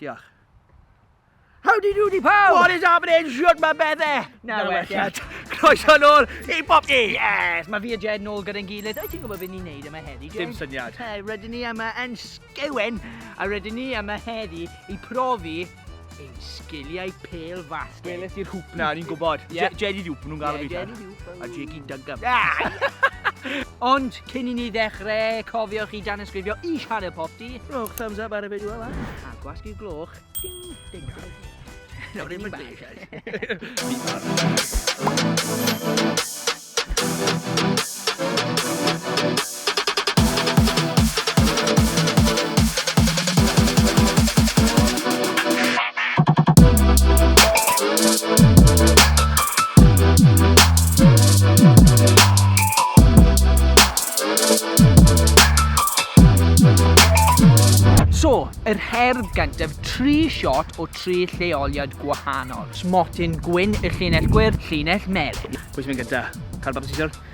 Diolch. Howdy doody pawb! What is happening? Shwt mae bedde? Na, na welliant. Croeso nôl i bob ni! Yes! Mae fi a Jed nôl gyda'n gilydd. Wyt ti'n gwybod beth ni'n neud yma heddi, Jed? Dim syniad. Hey, rydyn ni yma yn sgewen, a rydyn ni yma heddi i profi ein sgiliau pel fasged. Weles i'r hwp na, ni'n gwybod. Yeah. Jed i'r hwp, nhw'n gael yeah, fi. a Jiggy Duncan. Ond, cyn i ni ddechrau, cofiwch i dan ysgrifio i sianel popty. Rhowch thumbs up ar y fideo yma. A gwasg i'r gloch. Ding, ding, ding. No, ddim yn dweud. So, yr herdd gyntaf, tri shot o tri lleoliad gwahanol. Smotyn gwyn, y llinell gwyrdd, llinell melyn. Pwy sy'n mynd gyda? Cael bapur siswrn?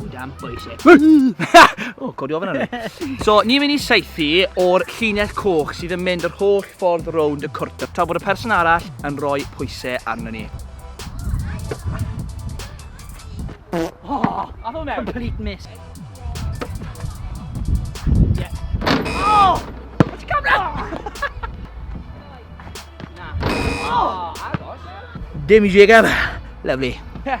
O dan boise. o, codi ofyn arni. So, ni'n mynd i seithi o'r llinell coch sydd yn mynd yr holl ffordd rownd y cwrt tra bod y person arall yn rhoi pwysau arno ni. Oh, a fo mewn? Complete miss. Yeah. Oh! What's come down? Na. Oh, agos. Dim i jegan. Lovely. Yeah.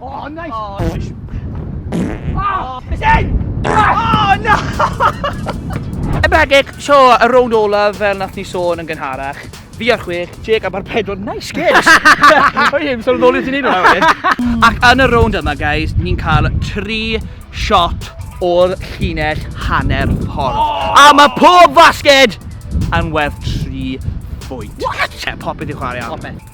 Oh, nice! Oh, nice! Oh, it's in! Oh, no! Ebedig, so, y rownd olaf fel nath ni sôn yn gynharach. Fi ar chwech, Jake am ar pedwar, nice guys! Oi, i'n sôn yn ôl i ti'n un o'n Ac yn y rownd yma, guys, ni'n cael tri shot o'r llinell hanner ffordd. Oh! A mae pob fasged yn werth tri bwynt. What? Te, popeth i'w chwarae am. Popeth.